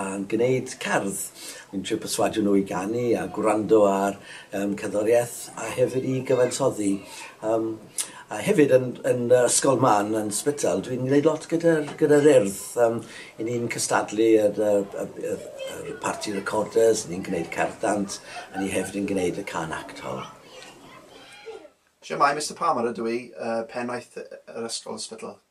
yn gwneud cerdd, yn trio perswadio nhw i ganu a gwrando ar um, cerddoriaeth a hefyd i gyfansoddi. Um, a hefyd yn, yn yr ysgol ma, yn, yn Sbytel, dwi'n gwneud lot gyda'r gyda ryrdd. Um, I ni'n cystadlu yr, yr, yr, yr party recorders, ni'n gwneud cerddant, a ni hefyd yn gwneud y can act hol. Siamai, Mr Palmer ydw i, uh, pennaeth yr ysgol Sbytel.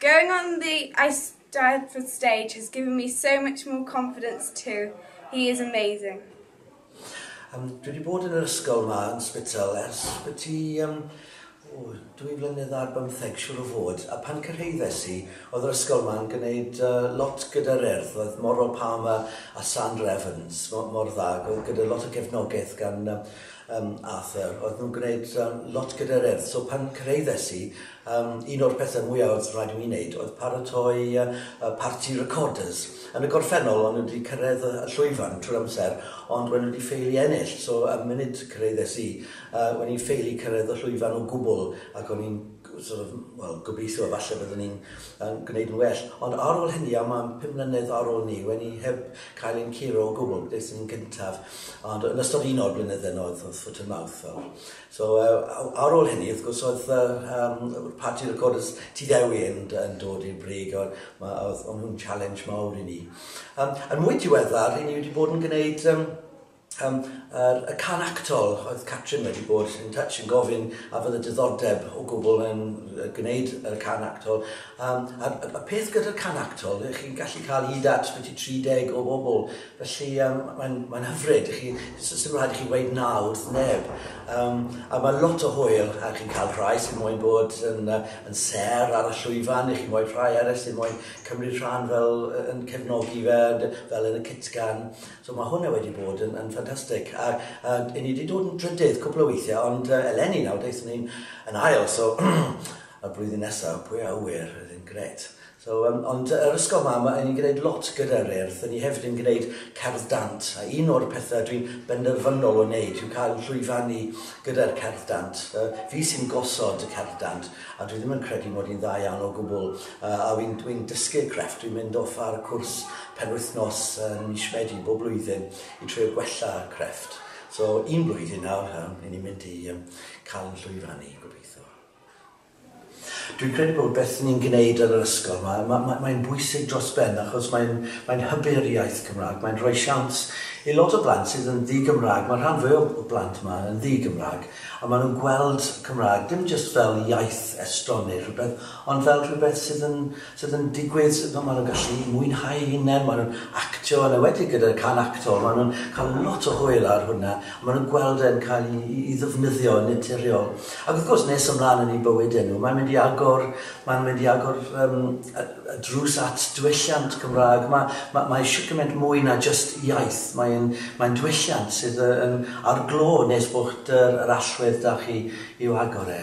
Going on the Eisteddfod stage has given me so much more confidence too, he is amazing. Yym dwi 'di bod yn yr ysgol 'ma yn Spital ers byti yym o dwy flynedd ar bymtheg siŵr o fod a pan cyrhaeddes i o'dd yr ysgol 'ma yn gneud yy lot gyda'r Urdd oedd Moral Palmer a Sandra Evans mo- mor dda gy- gyda lot o gefnogaeth gan yym Yym Arthur. Oedden nhw'n gwneud yym lot gyda'r Urdd so pan cyraeddes i yym un o'r pethe mwya oedd rhaid i mi wneud oedd paratoi yy y parti recorders. Yn y gorffennol o'n nhw wedi cyrraedd y llwyfan trwy'r amser ond o'n nhw wedi ffeili ennill so y munud cyraeddes i yy o'n i'n ffeili cyrraedd y llwyfan o gwbl ac o'n i'n sort of, wel, gobeithio falle byddwn ni'n yn gwneud yn well. Ond ar ôl hynny, a mae'n pum mlynedd ar ôl ni, wen i heb cael ein curo o gwbl, beth sy'n gyntaf, ond yn ystod un o'r blynydde yna oedd, oedd foot and mouth fel. So, uh, ar ôl hynny, wrth gwrs, oedd uh, um, party recorders ti ddewi yn, yn dod i'r brig, oedd, oedd nhw'n challenge mawr i ni. Um, yn mwy diweddar, i ni wedi bod yn gwneud um, Yym yr y can actol oedd Catrin wedi bod yn touch yn gofyn a fydde diddordeb o gwbl yn yy gwneud yr can actol yym a y y peth gyda'r can actol ych chi'n gallu cael hyd at byti 30 o bobl felly yym mae'n mae'n hyfryd i chi s- sdim rhaid i chi weud na wrth neb yym a ma' lot o hwyl a chi'n cael rhai sy'n moyn bod yn yy yn sêr ar y llwyfan i chi mo'u rhai eryll sy'n moyn cymryd rhan fel yy yn cefnogi fe dy- fel yn y cytgan. So mae hwnna wedi bod yn, yn ffantastig. A, a i ni wedi dod yn drydydd cwpl o weithiau, ond uh, eleni nawr, daethon ni'n yn ail, so y blwyddyn nesaf, pwy a wyr, oedd yn gret. So, um, ond yr ysgol ma, mae ni'n gwneud lot gyda'r urdd, ni hefyd yn gwneud cerdd dant, a un o'r pethau dwi'n benderfynol o wneud yw cael llwyfannu gyda'r cerdd dant. Uh, fi sy'n gosod y cerdd dant, a dwi ddim yn credu mod i'n dda iawn o gwbl. Yy a wi'n wi'n dysgu'r crefft, dwi'n mynd off ar cwrs penwythnos yn mis Medi bob blwyddyn i trio gwella'r crefft. So un blwyddyn nawr yy ry'n ni'n mynd i yym ca'l yn llwyfannu gobeitho. Dwi'n credu bod beth ni'n gneud yn yr ysgol ma' ma' ma' mae'n bwysig dros ben achos mae'n mae'n hybu'r iaith Cymra'g, mae'n rhoi siawns i lot o blant sydd yn ddi-Gymra'g, ma' rhan fwya o blant 'ma yn ddi-Gymra'g a ma' nhw'n gweld Cymra'g dim jyst fel iaith estron neu rhywbeth Ond fel rhywbeth sydd yn, sydd yn digwydd, ma' ma' nhw'n gallu mwynhau eu hunain, ma' nhw'n actio, yn enwedig gyda'r can acto, ma' nhw'n cael lot o hwyl ar hwnna, a ma' nhw'n gweld e'n cael i i i ddefnyddio yn naturiol. Ac wrth gwrs, nes ymlaen yn eu bywyde nhw, mae'n mynd i agor, mae'n mynd i agor yym y y drws at dwylliant Cymraeg. Ma' ma' mae shwt gymaint mwy na jyst iaith, mae'n mae'n dwylliant sydd yy yn ar glo nes bod yr yr allwedd 'da chi i'w agor e.